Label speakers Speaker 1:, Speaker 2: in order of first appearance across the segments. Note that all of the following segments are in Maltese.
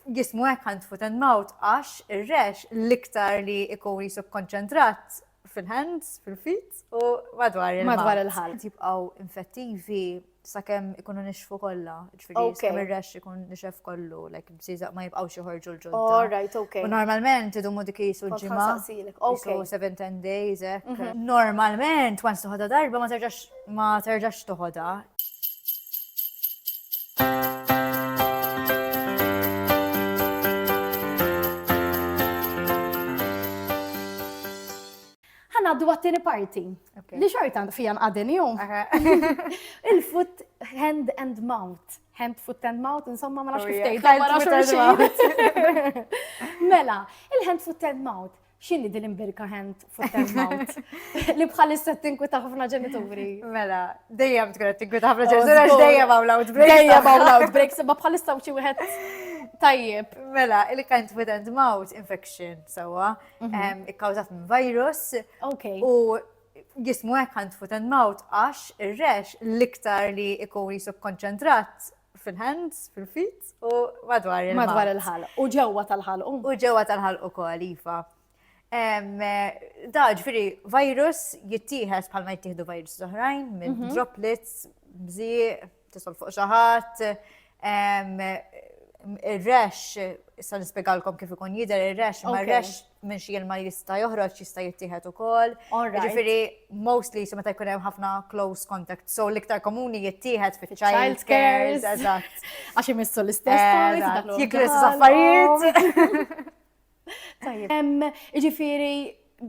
Speaker 1: jismu hekk hand, foot and mouth għax ir-rex l-iktar li ikun jisub konċentrat fil-hands, fil-feet u madwar il-ħalq. Madwar il-ħalq. Jibqgħu
Speaker 2: infettivi
Speaker 1: sakemm ikunu nixfu kollha. Ġifieri sakemm ir-rex ikun nixef kollu, like bżieżaq ma jibqgħux joħorġu l-ġodda. All right, okay. U
Speaker 2: normalment
Speaker 1: idumu
Speaker 2: dik
Speaker 1: jisu ġimgħa. Okay.
Speaker 2: 7-10 days,
Speaker 1: hekk. Mhm. Normalment, once toħodha darba ma terġax ma terġax toħodha.
Speaker 2: Għaddu għattini parti. Li xorta fijan għadin jum. Il-foot, hand and mouth. Hand, foot and mouth, insomma ma nafx oh, kif tgħid. Mela, il-hand, foot and mouth. xini din imbirka hand foot and mouth li bħalissa tinkwita ħafna ġenituri. Mela,
Speaker 1: dejjem tkun tinkwita ħafna oh, ġenituri għax dejjem hawn loud breaks. Dejjem hawn loud breaks,
Speaker 2: imma bħalissa xi wieħed tajjeb. Mela, il-hand
Speaker 1: foot and mouth infection sewwa mhm. ikkawżat minn virus. Okay. U jismu hekk hand foot and mouth għax ir-rex l-iktar li ikun jisub konċentrat fil-hands, fil-feet u madwar il-ħalq. Madwar il-ħalq. U ġewwa
Speaker 2: tal-ħalq. U ġewwa tal-ħalq
Speaker 1: ukoll, iva. Da, ġifiri, virus jittieħed bħalma jittieħdu virus oħrajn minn mhm. droplets, bżieq, tisol fuq xi ħadd. Ir-rex, issa nispjegalkom kif ikun jidher ir-rex, ma r-rex minn xi ilma jista' joħroġ jista' jittieħed ukoll. Ġifieri mostly so meta jkun hemm ħafna close contact, so l-iktar komuni jittieħed fi child care. Eżatt. Għax imissu
Speaker 2: l-istess. Jiklu s
Speaker 1: affarijiet. Tajjeb.
Speaker 2: Ġifieri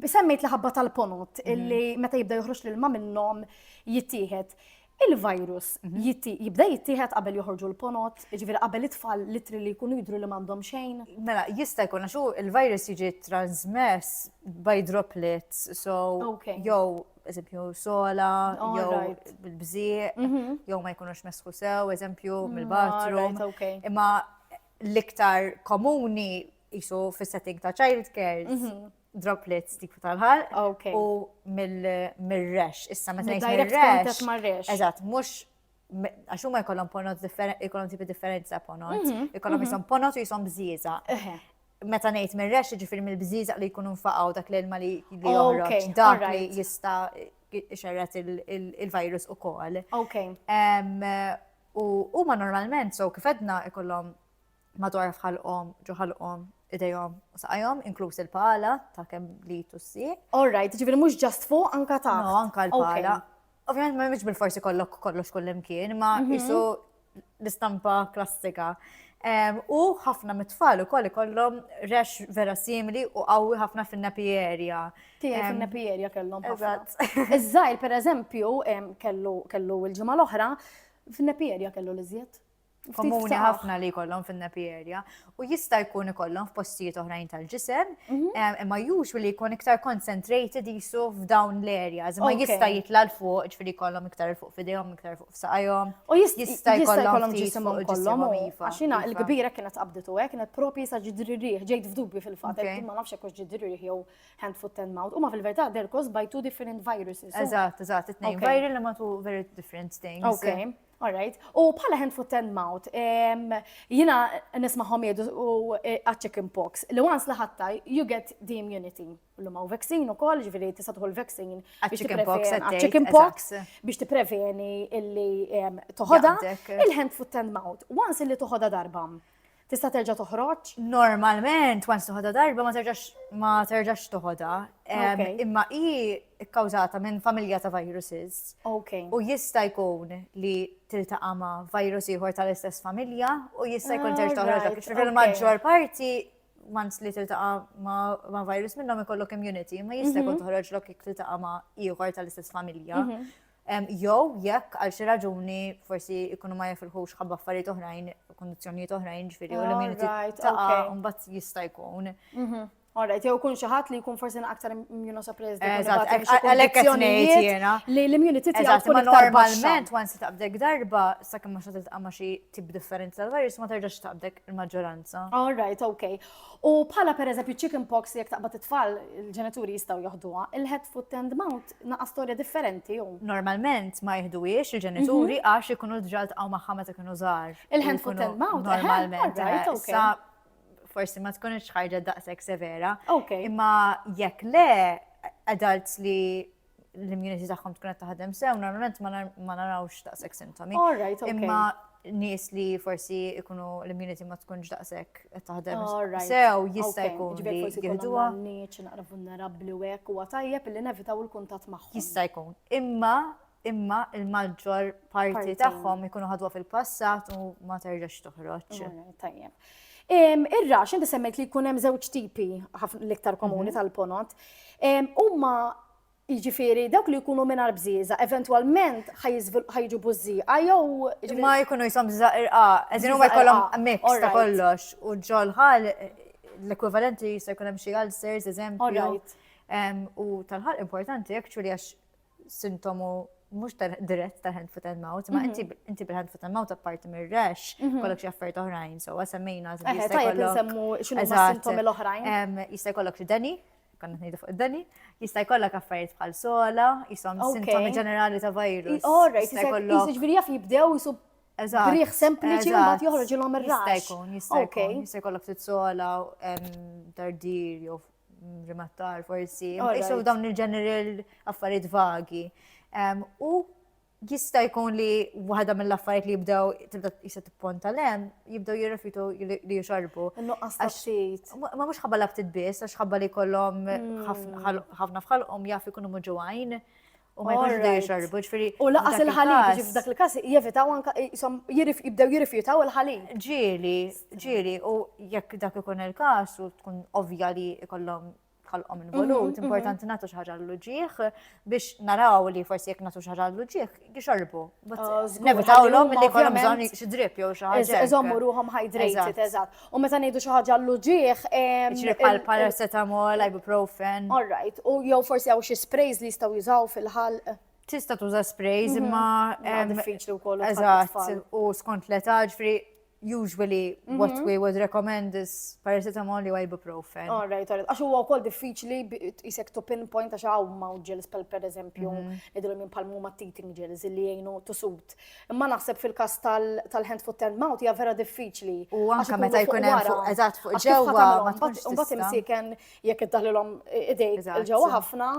Speaker 2: semmejt li ħabba tal-ponot illi meta jibda joħroġ l-ilma minnhom jittieħed. il-virus jibda jittieħed qabel joħorġu l-ponot, ġifieri qabel it-tfal litri li jkunu jidru li m'għandhom xejn. Mela, jista' jkun
Speaker 1: għax il-virus jiġi transmess by droplets, so jew eżempju sola, jew bil-bżieq, mhm. jew ma jkunux mesħu sew, eżempju mm, mill-bathroom. Imma l-iktar komuni jisu fis-setting ta' childcare, mhm. droplets dik tal-ħal. Ok. U mill-rex. Issa meta ngħid Direct mill-rex. contact mar-rex. Eżatt, mhux me- għax huma jkollhom ponot differenti, jkollhom tipi differenti ta' ponot. Mhm, Jkollhom mhm. jisom ponot u jisom bżieża. Eħe. Meta ngħid mir-rex jiġifieri mill-bżieża li jkunu nfaqgħu dak l-ilma li li Ok, joħroġ dak li alright. jista' xerret il-virus ukoll. Ok. Em, U huma normalment, so kif edna ikollhom madwar f'ħalqhom, ġo ħalqhom, idejhom u saqajhom, inkluż il-pala ta' kemm li tussi. All right, ġifieri mhux
Speaker 2: ġast fuq, anka ta'. No, anka l-pala.
Speaker 1: Ovvjament ma mhix bil-forsi kollok kollox kullimkien, ma mhm. isu l-istampa klassika. U ħafna mit-tfal ukoll ikollhom rex vera simili u qawwi ħafna fin-napi area. Tiegħi fin-napi
Speaker 2: area kellhom ħafna. Iż-żgħir pereżempju kellu kellu l-ġimgħa l-oħra fin-napi area kellu l-iżjed. komuni
Speaker 1: ħafna li jkollhom fin-nappy area u jista' jkun ikollhom f'postijiet oħrajn tal-ġisem, mhm. eh, imma usually jkun iktar concentrated jisu f'dawn l-areas, imma jista' jitla' l fuq ġifieri jkollhom iktar fuq f'idejhom, iktar fuq f'saqajhom. U jista'
Speaker 2: jkollhom ġisimhom kollhom iva, għax jiena l-kbira kienet qabditu hekk, kienet propri sa ġidri rieħ, ġejt f'dubju fil-fatt, ma nafx hekk ġidri rieħ jew hand foot and mouth, huma fil-verità they're caused by two different viruses. Eżatt, eżatt, it-tnejn
Speaker 1: viral li ma two very different things. Okay. All right.
Speaker 2: U bħala hand foot and mouth, jina nismaħom jedu u e, a chicken pox, li once li ħatta, you get the immunity. L-lum L-lumaw vaccine u koll, ġviri tista tħol vaccine. A chicken pox, a chicken pox, biex t-preveni illi toħoda, il-hand foot and mouth. Once illi toħoda darba. Tista' terġa' toħroġ? Normalment,
Speaker 1: once toħodha darba ma terġax ma terġax toħodha. Imma hi kkawżata minn familja ta' viruses. U jista' jkun li tiltaqa' ma' virus ieħor tal-istess familja u jista' jkun terġa' toħroġ dak. Fil-maġġor parti once li tiltaqa' ma' virus minnhom ikollok immunity, ma jista' jkun toħroġ lok tiltaqa' ma' ieħor tal-istess familja. Mhm. Jew jekk għal xi raġuni forsi jkunu ma jifilħux ħabba affarijiet oħrajn, kundizzjonijiet oħrajn ġifieri u l-immunità tagħha mbagħad jista' jkun. Mhm. Alright,
Speaker 2: jew kun xi ħadd li jkun forsi aktar immunosuppressed. Eżatt, għalhekk
Speaker 1: qed ngħid jiena. Li l-immunity tiegħu
Speaker 2: tkun aktar normalment once se taqbdek
Speaker 1: darba sakemm ma xatiltqa' ma xi tip differenza tal-virus ma terġax taqbdek il-maġġoranza. Alright, okay.
Speaker 2: U bħala per eżempju chicken pox li jek taqbad it-tfal il-ġenituri jistaw joħduha, il-head foot and mouth naqa storja differenti u. Normalment ma
Speaker 1: jihduwiex il-ġenituri mhm. għax ikunu l-ġal taqaw maħħa
Speaker 2: meta kienu
Speaker 1: żgħar.
Speaker 2: Il-hand
Speaker 1: foot and mouth. Normalment.
Speaker 2: Sa
Speaker 1: forsi ma tkunx ħarġa daqshekk severa. Imma
Speaker 2: jekk
Speaker 1: le adults li l-immunity tagħhom tkun qed taħdem sew, normalment ma narawx daqshekk sintomi. Imma
Speaker 2: nies
Speaker 1: li forsi ikunu l-immunity ma tkunx daqshekk qed taħdem sew
Speaker 2: jista' jkun
Speaker 1: li
Speaker 2: jieħduha. Nies
Speaker 1: naqra
Speaker 2: vulnerabbli u hekk huwa tajjeb li nevitaw il-kuntatt magħhom. Jista' jkun. Imma
Speaker 1: imma il-maġġor parti tagħhom ikunu
Speaker 2: ħadwa
Speaker 1: fil-passat u ma terġax toħroġ. Tajjeb.
Speaker 2: Ir-rax, inti semmejt li jkun hemm żewġ tipi l-iktar komuni mhm. tal-ponot. Huma Jiġifieri dawk li jkunu mingħajr bżieża eventwalment ħajġu bużżieqa jew ma jkunu jisom bżieża
Speaker 1: irqa, eżin huma jkollhom mix ta' kollox u ġol ħal l-ekwivalenti jista' jkun hemm xi ulcers, eżempju.
Speaker 2: U
Speaker 1: tal-ħal importanti actually għax sintomu mux dirett ta' hand foot and mouth, ma mhm. inti bil-hand foot and mouth apparti mir rash mhm. kollok xaffert oħrajn, so għasemmejna. Eħe, tajjeb nsemmu
Speaker 2: xinu ma' sintomi l-oħrajn. Jista' kollok deni,
Speaker 1: konna t-nejdu fuq id-dani, jista' jkollok affarijiet bħal sola, jisom sintomi ġenerali ta' virus. Orra, jista' jkollok.
Speaker 2: Jiġifieri jaf jibdew jisu Briħ sempliċi u bat joħroġ il-om ir-rax. Jista' jkun, jista'
Speaker 1: jkollok ftit sola, dardir, jew rimattar forsi, jisu dawn il-general affarijiet vagi. U jista' jkun li waħda mill-affarijiet li jibdew tibda jista' tipponta lem, jibdew jirrefitu li jixarbu. Nuqqas taxxit.
Speaker 2: Ma mhux ħabba l
Speaker 1: biss, għax ħabba li kollhom mm. ħafna fħalqhom jaf ikunu muġuwajn. U ma jkunx bdew jixorbu, ġifieri. U laqas il-ħalib,
Speaker 2: ġif dak il-każ jevitaw anka jibdew jirrifjutaw il-ħalib. Ġieli, ġieli,
Speaker 1: u jekk dak ikun il-każ u tkun ovvja li jkollhom ħalqhom involut, mhm, mhm. importanti nagħtu xi ħaġa l-luġieħ biex naraw li forsi jekk nagħtu xi ħaġa l-luġieħ jixorbu. Ah, Nevitawlhom li jkollhom bżonn xi drip jew xi ħaġa. Iżommu ruhom hydrated,
Speaker 2: eżatt. U meta ngħidu xi ħaġa l-uġieħ. Ġri bħal
Speaker 1: paracetamol, ibuprofen. All right, u jew
Speaker 2: forsi hawn xi sprays li jistgħu jużaw fil-ħalq. Tista' tuża
Speaker 1: sprays mhm. imma diffiċli wkoll.
Speaker 2: Eżatt, u
Speaker 1: skont l-età ġifri usually mhm. what we would recommend is paracetamol u ibuprofen. All right, all right. Għax huwa
Speaker 2: wkoll diffiċli jisek to pinpoint għax hawn ma' gels per eżempju, mhm. idilhom minn palmu ma' teething gels li jgħinu to suit. Imma naħseb fil-każ tal-hand foot and mouth hija vera diffiċli. U anke meta jkun
Speaker 1: hemm fuq eżatt fuq ġewwa. Mbagħad imsiken
Speaker 2: jekk iddaħlilhom idejk ġewwa ħafna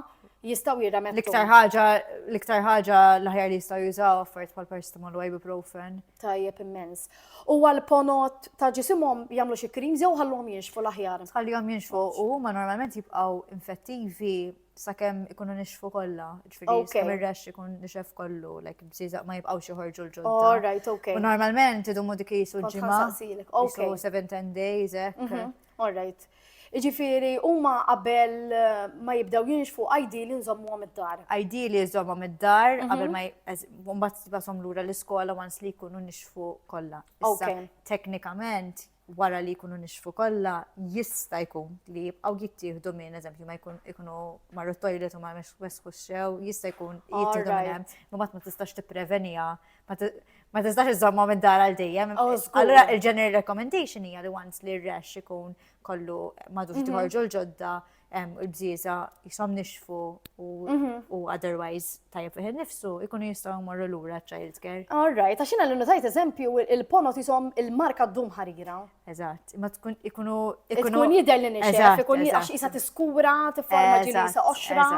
Speaker 2: jistgħu jirremettu. L-iktar ħaġa l-iktar
Speaker 1: ħaġa l-aħjar li jistgħu jużaw affarijiet bħal paracetamol u ibuprofen. Tajjeb immens.
Speaker 2: U għal ponot ta' ġisimhom jagħmlu xi krims jew ħallhom jinxfu l-aħjar. Ħallhom jinxfu u
Speaker 1: huma normalment jibqgħu infettivi Sakemm ikunu nixfu kollha, ġifieri Ok. sakemm ir-rash ikun nixef kollu, like bżieżaq ma jibqgħux joħorġu l-ġodda. All right, ok. U
Speaker 2: normalment
Speaker 1: idumu
Speaker 2: dik
Speaker 1: jisu Kont l-ġimgħa. ħansaqsilek, ok. Jisu
Speaker 2: 7-10 days,
Speaker 1: hekk. Mhm, All right.
Speaker 2: Jiġifieri huma qabel eh, ma jibdew jinxfu ideali nżommuhom id-dar. Ideali żommhom
Speaker 1: id-dar Mhm. qabel ma j- eż- u mbagħad tibasom lura l-iskola once li jkunu nixfu kollha. Issa, Ok. teknikament wara li jkunu nixfu kollha, jista' jkun li jibqgħu jittieħdu minn, eżempju, ma jkun ikunu marru t-toilet u ma wesħux sew, jista' jkun jittieħdu minn hemm, imma ma tistax tippreveniha, ma tistax iżommhom id-dar għal dejjem. Oh, Allura il-general recommendation hija li once li r-rash ikun kollu madux mhm. tħorġu l-ġodda, il-bżieza jisom nixfu u mhm. otherwise tajjeb fiħin nifsu, ikunu jistaw morru l-ura child care. All right, għax jina l-nutajt
Speaker 2: eżempju il-ponot jisom il-marka d-dum ħarira. Eżat, ma
Speaker 1: tkun ikunu. Ikun jider li
Speaker 2: nixef, ikun għax jisa tiskura, t-forma ġili jisa oxra.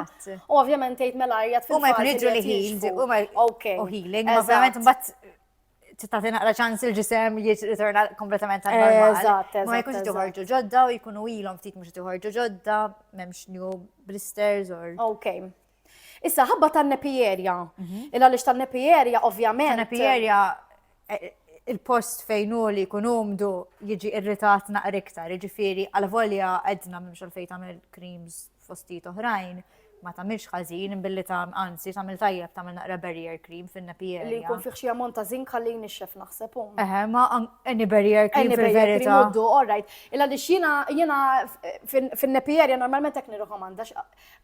Speaker 2: U ovvjament jgħid mela jgħat fil-ħin. U ma jkun jiġu li
Speaker 1: ħin, u ma. Ok. U healing, ovvjament mbatt titati naqra ċans il-ġisem jirritorna kompletament għal normal. Eżatt, eżatt. Ma jkunx tiħorġu ġodda u jkunu ilhom ftit mhux tiħorġu ġodda, m'hemmx new blisters or. Ok.
Speaker 2: Issa ħabba tan-nepierja. Mhm. Illa lix tan-nepierja ovvjament. Tan-nepierja e,
Speaker 1: e, il-post fejn hu li jkun umdu jiġi irritat naqra iktar, jiġifieri għal volja għedna mhux għalfejn tagħmel creams fostijiet oħrajn, ma tagħmilx ħażin billi ta' anzi tagħmel tajjeb tagħmel naqra barrier cream fin-nappy area. Li jkun fih xi ammont
Speaker 2: ta' żink ħalli jnixxef naħseb hum. Eħe, ma any
Speaker 1: barrier cream fil-verità. Uddu, all right.
Speaker 2: Illa li xina jiena fin-nappy area normalment hekk nirrekomanda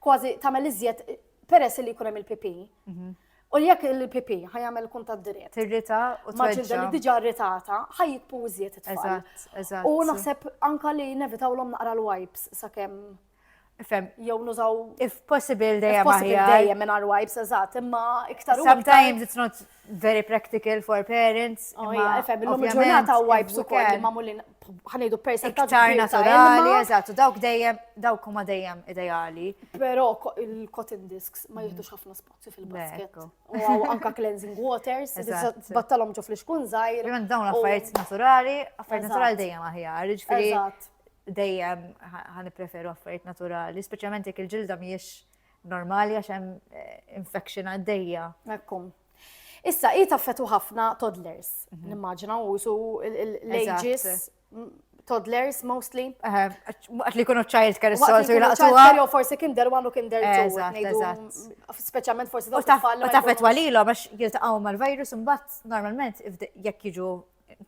Speaker 2: kważi tagħmel iżjed peress li jkun hemm il-pipi. Mhm. U jekk il-PP ħa jagħmel kuntatt dirett. Tirrita u Ma' ġilda
Speaker 1: li diġà
Speaker 2: rritata ħa jitpu iżjed it-tfal. Eżatt, eżatt. U naħseb
Speaker 1: anka
Speaker 2: li nevitawlhom naqra l-wipes sakemm Fem. Jew nużaw. If possible
Speaker 1: dejjem. Possible dejjem minn our wipes,
Speaker 2: eżatt, imma iktar. Sometimes it's not
Speaker 1: very practical for
Speaker 2: parents.
Speaker 1: Oh,
Speaker 2: imma
Speaker 1: fem, l-lum
Speaker 2: ġurnata
Speaker 1: wipes
Speaker 2: u koll
Speaker 1: ma mullin
Speaker 2: ħanidu percentaġ. Iktar naturali,
Speaker 1: eżatt, u dawk dejjem, dawk huma dejjem ideali. Però
Speaker 2: il-cotton disks ma jihdux ħafna spazju. fil-basket. U anka cleansing waters, battalom ġo fl-iskun zaħir. Jman dawn affarijiet
Speaker 1: naturali, affarijiet naturali dejjem aħjar, ġifiri. Dejjem ħan preferu affarijiet naturali, speċjalment jekk il-ġilda miex normali għax hemm eh, infection għaddejja. Ekkum.
Speaker 2: Issa, i taffetu ħafna toddlers, mhm. nimmaġina, u su l-ages toddlers mostly. Għat li
Speaker 1: kunu child care s-sol su jlaqtuwa. Jo
Speaker 2: forsi kinder one u kinder two. Speċjalment forsi daw tfal. U tafet
Speaker 1: walilom għax jiltaqaw mal-virus mbatt normalment jekk jiġu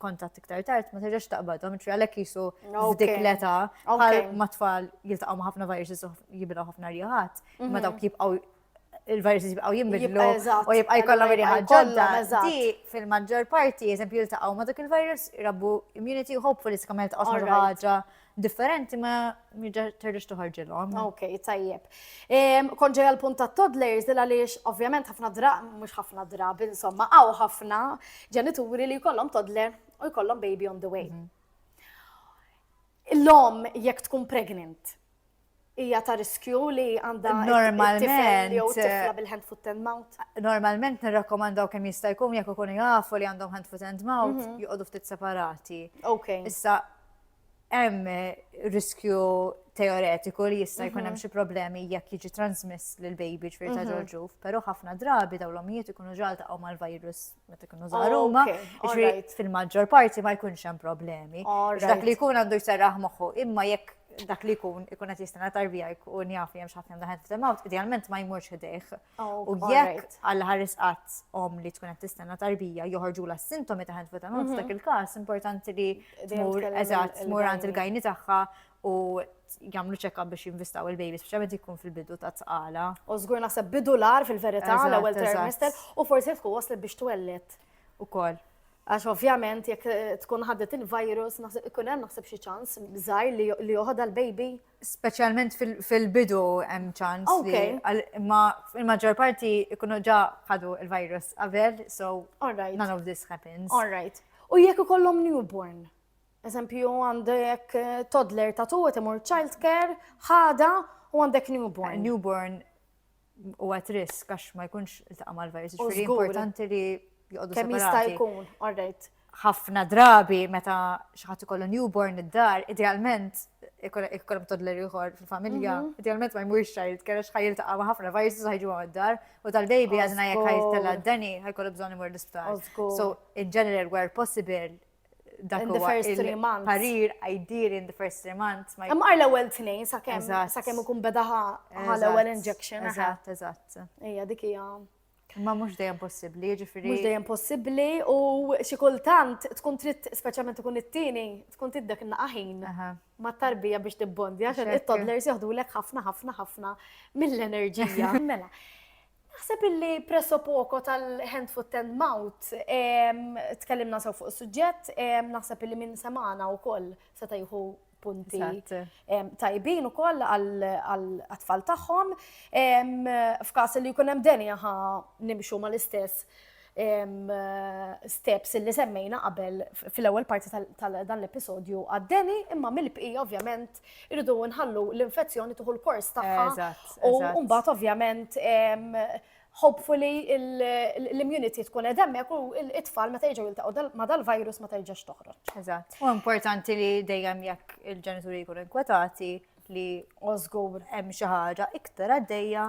Speaker 1: kontatt iktar tard ma terġax taqbadhom, ċri għalhekk jisu f'dik l-età bħal ma tfal jiltaqgħu ma' ħafna viruses u jibilgħu ħafna riħat, ma mhm. dawk jibqgħu il-viruses jibqaw jimbidlu u jibqa' jkollhom irriħa ġodda. Di fil-maġġor parti, eżempju, jiltaqgħu ma' dak il-virus, rabbu immunity u hopefully tkun mel taqgħu ma' ħaġa differenti ma terġax toħorġilhom. Ok, tajjeb.
Speaker 2: Kon ġeja l-punt ta' toddlers dil għaliex ovvjament ħafna dra, mhux ħafna drab, insomma, għaw ħafna ġenituri li jkollhom toddler u jkollhom baby on the way. Mhm. L-om jekk tkun pregnant, hija ta' riskju li għandha normalment jew tifla bil-hand foot and mouth. Normalment nirrakkomandaw
Speaker 1: kemm jista' jkun jekk ikun jafu li għandhom hand foot and mouth mhm. joqogħdu ftit separati. Ok. Issa hemm riskju teoretiku li jista' jkun hemm mhm. xi problemi jekk jiġi transmess lil baby ġifier ta' mhm. ġorġuf, però ħafna drabi dawn l-omijiet ikunu ġaltaqgħu mal-virus meta jkunu żgħar huma, fil-maġġor parti ma jkunx hemm problemi. Dak li jkun għandu jserraħ moħħu, imma jekk dak li jkun ikun qed jistenna tarbija jkun jaf li hemm xi ħadd daħet f'temawt, idealment ma jmurx ħdejh. Oh, u jekk għal ħares qatt om li tkun qed tistenna tarbija joħorġu la sintomi ta' ħed f'temawt mhm. dak il-każ importanti li tmur eżatt tmur għand il-gajni tagħha u jagħmlu check-up biex jinvistaw il-baby, speċjalment jkun fil-bidu ta' tqala. U żgur naħseb bidu
Speaker 2: l-ar fil-verità l-ewwel trimester u forsi tkun waslet biex twellet. Ukoll.
Speaker 1: Għax ovvjament
Speaker 2: jekk eh, tkun ħaddet il-virus, naħseb ikun hemm naħseb xi ċans żgħir li joħodha l-baby. Speċjalment
Speaker 1: fil-bidu hemm ċans. Okay. Ma il-maġġor parti ikunu ġa ħadu il-virus qabel, so none of this happens. All right. U
Speaker 2: jekk ikollhom newborn? Eżempju, għandek toddler ta' tu, imur child care, ħada u għandek newborn. Newborn
Speaker 1: u għat risk għax ma jkunx il-taqqa mal-virus. Ġifiri importanti li jgħodu Kemm jista' jkun,
Speaker 2: orrejt. ħafna drabi
Speaker 1: meta xaħat ikollu newborn id-dar, idealment ikollhom toddler ieħor fil-familja, mhm. idealment ma jmurx xajt, kellha xħajr ta' ma ħafna virus ħajġu għam id-dar u tal-baby għadna jekk ħajtella d-dani ħajkollu bżonn imur l-isptar. So, in general, where possible, dak huwa parir għajdir in the first three months. Imma għal ewwel tnejn
Speaker 2: sakemm sakemm ikun beda għal ewwel injection. Eżatt, eżatt.
Speaker 1: Ejja dik hija.
Speaker 2: Ma mhux dejjem
Speaker 1: possibbli, jiġifieri. Mhux dejjem possibbli
Speaker 2: u xi kultant tkun trid speċjalment ikun it-tieni tkun tiddek naqaħin. ma tarbija biex tibbondi, għax il-toddlers joħdulek ħafna, ħafna, ħafna mill-enerġija. Mela, naħseb illi presso poco tal-hand foot and mouth, tkellimna sew fuq is-suġġett, naħseb illi minn semana u koll se tajħu punti tajbin u koll għal-atfall tagħhom. F'kas li jkun hemm denja nimxu mal-istess steps li semmejna qabel fil-ewwel parti tal-dan l-episodju għaddeni, imma mill-bqija ovvjament irridu nħallu l-infezzjoni tuħu l-kors tagħha. U mbagħad ovvjament hopefully l-immunity tkun qed hemmhekk u t-tfal meta jiġu jiltaqgħu ma dal-virus ma terġax toħroġ. Eżatt. U importanti
Speaker 1: li dejjem jekk il-ġenituri jkunu inkwetati li ożgur hemm
Speaker 2: xi ħaġa
Speaker 1: iktar għaddejja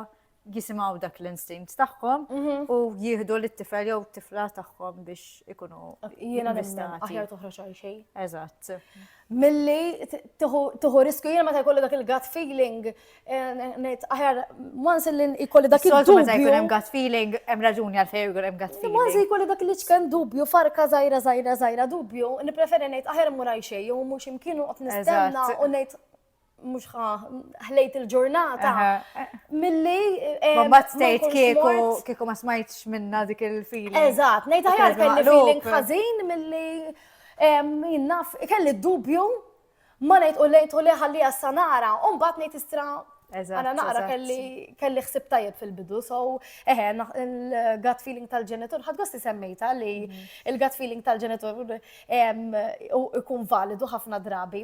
Speaker 1: jisimgħu dak l-instinct tagħhom u jieħdu lit-tifel jew tifla tagħhom biex ikunu jiena nista'
Speaker 2: aħjar toħroġ għal xejn. Eżatt.
Speaker 1: Milli
Speaker 2: tieħu riskju jiena meta jkollu dak il-gut feeling ngħid aħjar once li jkolli dak il-dubju. Meta jkun hemm gut feeling
Speaker 1: hemm raġuni għal fejn jkun hemm gut feeling. Once jkolli dak li ċken
Speaker 2: dubju farka żgħira żgħira żgħira dubju, nippreferi ngħid aħjar mur għal xejn jew mhux imkienu qed nistenna u ngħid mux ħlejt il-ġurnata. Milli. Eh, ma bat stejt
Speaker 1: kieku kieku ma smajtx minna dik il-feeling. Eżat, nejta ħjar kelli
Speaker 2: feeling ħazin milli jinnaf, kelli dubju ma nejt u lejt u li ħalli għassanara, un bat nejt istra Għana naqra kelli xsib tajjeb fil-bidu, so eħe, il-gut feeling tal-ġenitur, ħad gosti semmejta li mhm. il-gut feeling tal-ġenitur ikun validu ħafna drabi.